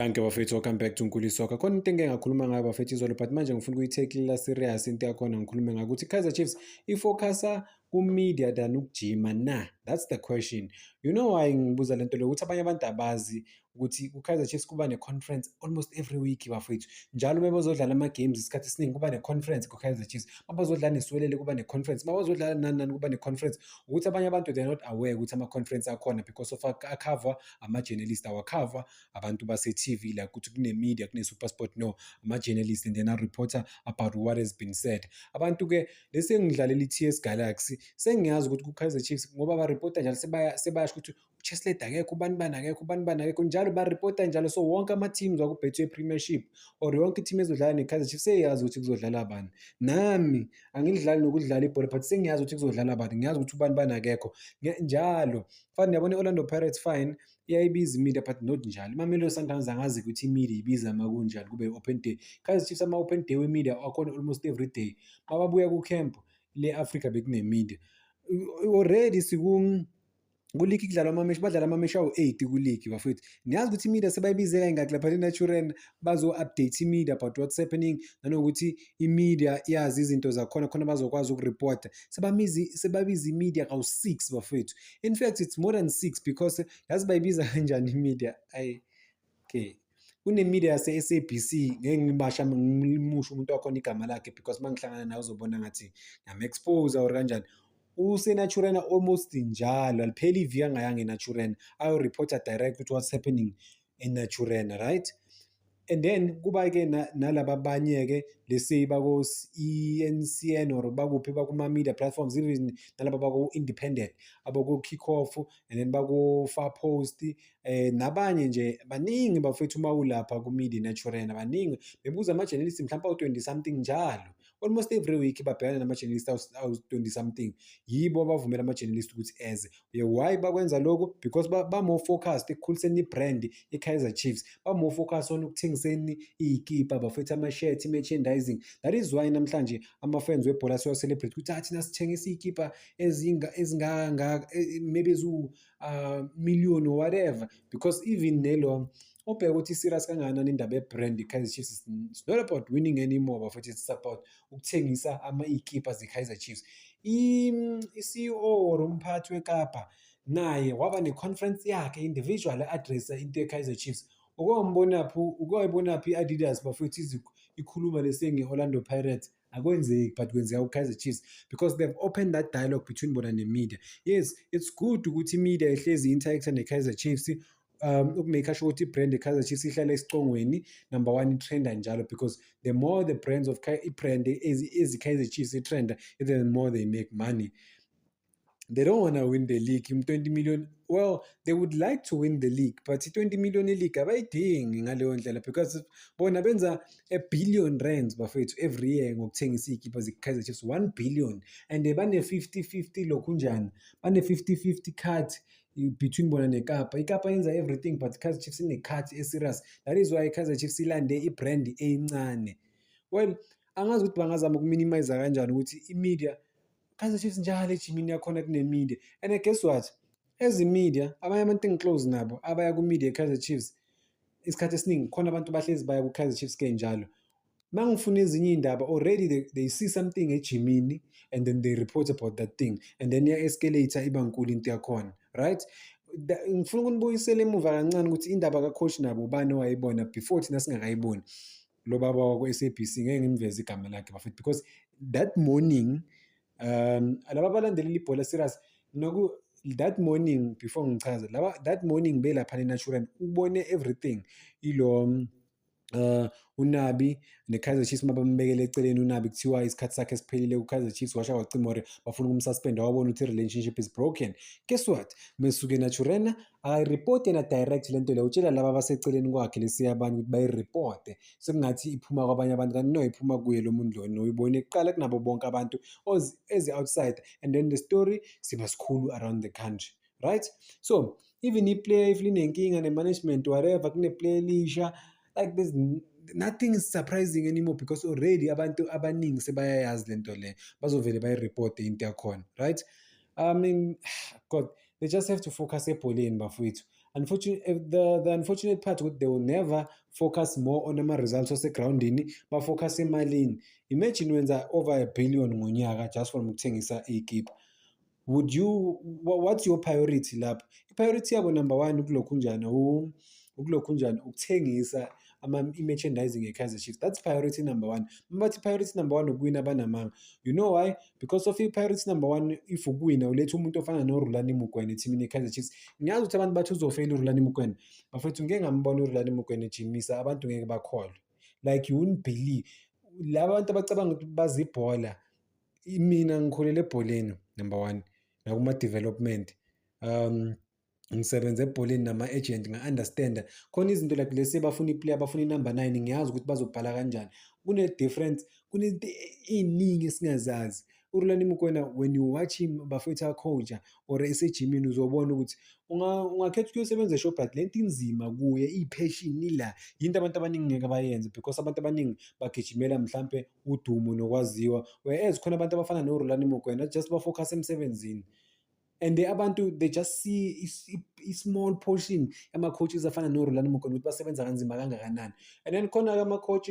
Thank you bafethu, welcome back to Nkuli Soccer. Khona into engeke ngakhuluma ngayo bafethu izolo but manje ngifuna ukuyitheklela serious into yakhona ngikhulume ngayo ukuthi Kaizer Chiefs ifocusa ku-media than ukujima na? That's the question. You know why ngibuza lento leyo ukuthi abanye abantu abazi ukuthi ku-Kaizer Chiefs kuba ne-conference almost every week bafethu. Njalo bebazodlala ama-games isikhathi esiningi kuba ne-conference ku-Kaizer Chiefs. Mabazodlala neSwelele kuba ne-conference. Mabazodlala nani nani kuba ne-conference. Ukuthi abanye abantu they are not aware ukuthi ama-conference akhona because of akhava ama-journalist awakhava abantu base-TV like ukuthi kune-media kune-supersport no ama-journalist and then a-reporter about what has been said abantu-ke lesengidlalela i-TS Galaxy sengiyazi ukuthi ku-Kaizer Chiefs ngoba ba-reporter njalo sebayasho ukuthi uCheslade akekho ubani bani akekho ubani bani akekho njalo ba-reporter njalo so wonke ama-teams wakubhethwe premiership or yonke i-team ezodlala ne-Kaizer Chiefs seyazi ukuthi kuzodlala bani nami angilidlali nokudlala ibhola but sengiyazi ukuthi kuzodlala bani ngiyazi ukuthi ubani bani akekho njalo fani yabona i-Orlando Pirates fine iyayibiza imedia but not njalo imamelodi sundowns angazi ukuthi imedia ibiza ma kunjani kube open day kaizer chiefs ama-open day wemedia akhona almost every day mababuya kucamp le-afrika bekunemedia already siku kuligi kudlalwa amameshi badlala amameshi awu-eight kuligi bafethu niyazi ukuthi imedia sebayibize kayingaki lapha lenaturen bazo-update imedia about what's happening nanokuthi imedia yazi izinto zakhona khona bazokwazi ukuripota sebabize imedia kawu-six bafethu in fact it's more than six because yazi bayibiza kanjani imedia ayi okay kunemedia yase-sabc ngeke ngibasha ngimusho umuntu wakhona igama lakhe because uma ngihlangana naye uzobona ngathi ngiyam-expose or kanjani usenaturena almost njalo alipheli iviki angayanga enaturena ayoreporta direct ukuthi what's happening enaturena right and then kuba-ke nalaba abanye-ke lesi bako-encn or bakuphi bakuma-media platforms even nalaba baku-independent abako-kick off and then bako-far post um eh, nabanye nje baningi bafethu uma ulapha ku-media naturena baningi bebuza ama-journalist mhlawumpe awu-twenty something njalo almost every week babhekane nama-journalist awu-20 something yibo abavumela ama-journalist ukuthi eze uye why bakwenza lokho because ba-more focused ekukhuliseni i-brand i-kaizer chiefs ba-more focused on ukuthengiseni iy'kipa bafethe ama-shirt i-merchandising that is why namhlanje ama-fans webhola siwa-celebrate ukuthi athina ah, sithengisa iy'kipa ezingangaka eh, maybe eziwu-million ah, or whatever because even nelo ubheke ukuthi serious kangakanani indaba yebrand i-Kaizer Chiefs it's not about winning anymore bafethu it's about ukuthengisa ama ikhipha ze-Kaizer Chiefs i-CEO or umphathi weKapa naye waba ne-conference yakhe individual addressa into ye-Kaizer Chiefs ukwambonaphi ukwayibonaphi i-Adidas bafethu ikhuluma lesengi-Orlando Pirates akwenzeki but kwenzeka ku-kaizer chiefs because they've opened that dialogue between bona ne-media yes it's good ukuthi i-media ihlezi i-interact ne-kaizer chiefs um ukumake sure ukuthi i-brand ye-kaizer chiefs ihlale esicongweni number one i-trenda njalo because the more the brands of i-brand ezi-kaizer chiefs i-trenda the more they make money they don't want to win the league 20 million well they would like to win the league but 20 million league abayidingi ngaleyo ndlela because bona benza a billion rands bafethu every year ngokuthengisa iy'kipha ze-kaizer chiefs 1 billion and bane-50 50 lokhu njani bane-50 50 cut between bona nekapa ikapa yenza everything but kaizer chiefs ine-cut e-serious that is why kaizer chiefs ilande i-brand eyincane well angazi ukuthi bangazama ukuminimiza kanjani ukuthi i-media Kaizer Chiefs njalo ejimini yakhona kunemide and guess what ezimedia abanye abantu engiclose nabo abaya kumedia eKaizer Chiefs isikhathi esiningi khona abantu bahlezi baya kuKaizer Chiefs ke njalo uma ngifuna ezinye iy'ndaba already they, they see something ejimini and then they report about that thing and then iya-escalate iba nkulu into yakhona right ngifuna ukunibuyisela emuva kancane ukuthi indaba kacoach nabo ubani owayibona before thina singakayiboni lo baba wakwa-sabc ngeke ngimveze igama lakhe bafethu because that morning um laba balandelela ibhola serious noku that morning before ngichaze laba that morning belapha nenatural ubone everything ilo Uh, unabi nekaizer chiefs uma bambekele eceleni unabi kuthiwa isikhathi sakhe siphelile kukaizer chiefs washa kwacimore bafuna ukumsuspenda wabona ukuthi i-relationship is broken guess what mesuke naturena akayiripoti yena direct le nto leyo utshela laba abaseceleni kwakhe lesiya abanye ukuthi bayiripote sekungathi iphuma kwabanye abantu kanti no iphuma kuye lo muntu lona uyibone kuqala kunabo bonke abantu as outside and then the story siba sikhulu around the country right so even iplayer if linenkinga ne-management whatever kuneplayer elisha like there's nothing is surprising anymore because already abantu abaningi sebayayazi lento le bazovele bayireport into yakhona right i mean god they just have to focus ebholeni bafowethu unfortunately eh, the, the unfortunate part ukuthi they will never focus more on ama-results asegroundini bafocus emalini imagine wenza over a billion ngonyaka just from ukuthengisa ikipa would you what's your priority lapho i-priority yabo number one ukulokhu njani ukulokhu njani ukuthengisa i-merchandising ye-kaizer chiefs that's priority number one uma bathi priority number one ukuwina banamanga you know why because of i-priority number one if ukuwina uletha umuntu ofana norulani mukwena ethimini ye-kaizer chiefs ngiyazi ukuthi abantu bathi uzofeyila urulani mukwena bafethu ngike ngambona urulani mukwena ejimisa abantu ngeke bakholwe like you wouldn't believe laba bantu abacabanga ukuthi bazibhola mina ngikhulele ebholeni number one nakuma-development um ngisebenza ebholeni nama-agent nga-understanda khona izinto like lesi bafuna iplayer bafuna inumber nine ngiyazi ukuthi bazobhala kanjani kune-difference kunezinto ey'ningi esingazazi urulani mukwena when you watch him bafethu akhonja or esejimini uzobona ukuthi ungakhetha ukuyosebenza eshobhat le nto inzima kuye ipheshini ila yinto abantu abaningi ngeke bayenze because abantu abaningi bagijimela mhlampe udumo nokwaziwa whereas khona abantu abafana norulani mokwena just bafocus emsebenzini and they abantu they just see i-small portion yama-coaches afana norulani mokwena ukuthi basebenza kanzima kangakanani and then khona-ke ama-coach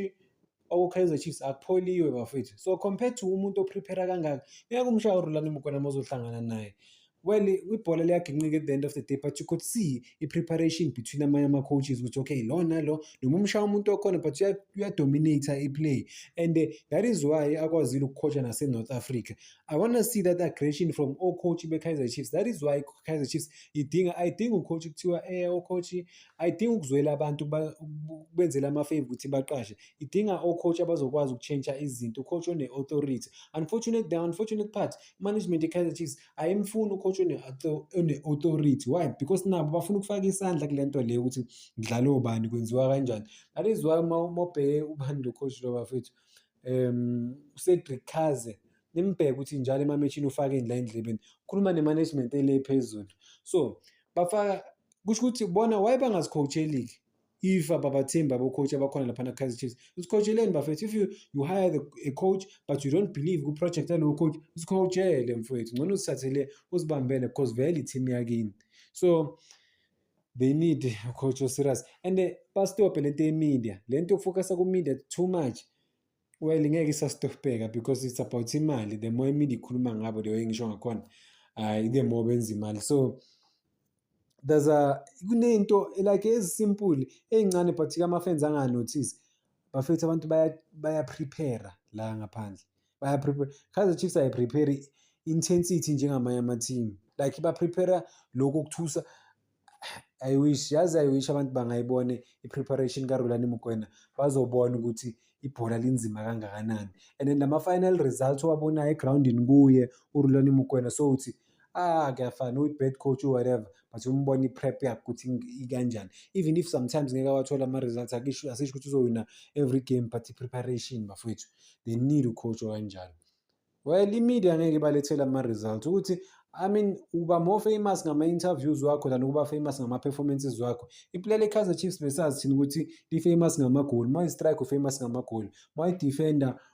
okukaizer chiefs akupholiwe bafethu so compared to umuntu oprepare kangaka ngeke umshaya urulani mokwena mozohlangana naye when ibhola liyaginqika at the end of the day but you could see i-preparation between amanye ama-coaches ukuthi okay lona lo noma umshaya umuntu okhona but uyadominata i-play and eh, that is why akwazile ukukhosha nase-north africa i want to see that aggression from ocoach be-kaizer chiefs that is why kaizer chiefs idinga ayidinga ucoach kuthiwa um eh, ocoach ayidinga ukuzwela abantu benzela amafave ukuthi baqashe idinga ocoach abazokwazi ukutshentsha izinto ucoach one-authority unfortunate the unfortunate part management ye-Kaizer Chiefs ayimfuni ucoach one-authority why because nabo bafuna ukufaka isandla kule nto leyo ukuthi kudlale obani kwenziwa kanjani that is why uma ubheke ubani lo coach lo bafethu um ucedric kaze nimbheke ukuthi njalo emameshini ufake indla endlebeni ukhuluma ne-management ele phezulu so bafaka kusho ukuthi bona why bangazicoach eligi if ababathembi babocoach abakhona laphana kaizer chiefs usikhotsheleni bafethu if you, you hire the, a coach but you don't believe kwiproject yalowo coach usikhotshele mfowethu ngcono usithathele uzibambele because vele i-team yakini so they need a coach oserious and uh, bastophe le nto yemedia le nto yokufokasa kumedia too much well ngeke isastopeka because it's about imali the more imedia ikhuluma ngabo leyo engisho ngakhona hayi the more benza imali so there's a kunento like ezisimple ezincane but ke ama-fans anganothisi bafethu abantu bayaprepare la ngaphandle bayaprepare kaizer chiefs ayiprepare intensity njengamanye ama-team like baprepare lokhu okuthusa i wish yazi i wish abantu bangayibone i-preparation karulani mukwena bazobona ukuthi ibhola linzima kangakanani and then lama-final results owabonayo egrawundini kuye urulani mukwena so uthi so, ah kuyafana uyi-bad coach whatever but umbona i-prep yakhe ukuthi ikanjani even if sometimes ngeke awathola ama-results akisho asisho ukuthi uzowina every game but i-preparation bafowethu they need ucoach okanjalo well i-media ngeke ibalethele ama-results ukuthi I mean uba more famous ngama-interviews wakho than ukuba famous ngama-performances wakho iplay le-kaizer chiefs besazi thina ukuthi li-famous ngamagoli uma i-strike u-famous ngamagoli uma i-defender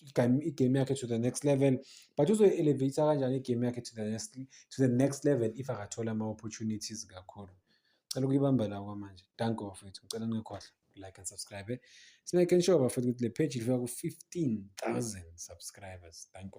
igame yakhe to the next level but uzoyi-elevate kanjani igame yakhe to the next, to the next level if akathola ama-opportunities kakhulu cela ukuyibamba la kwamanje danke bafethu ngicela ningekhohlwa like and subscribe simake sure bafethu ukuthi le page ilifika ku-15000 subscribers danke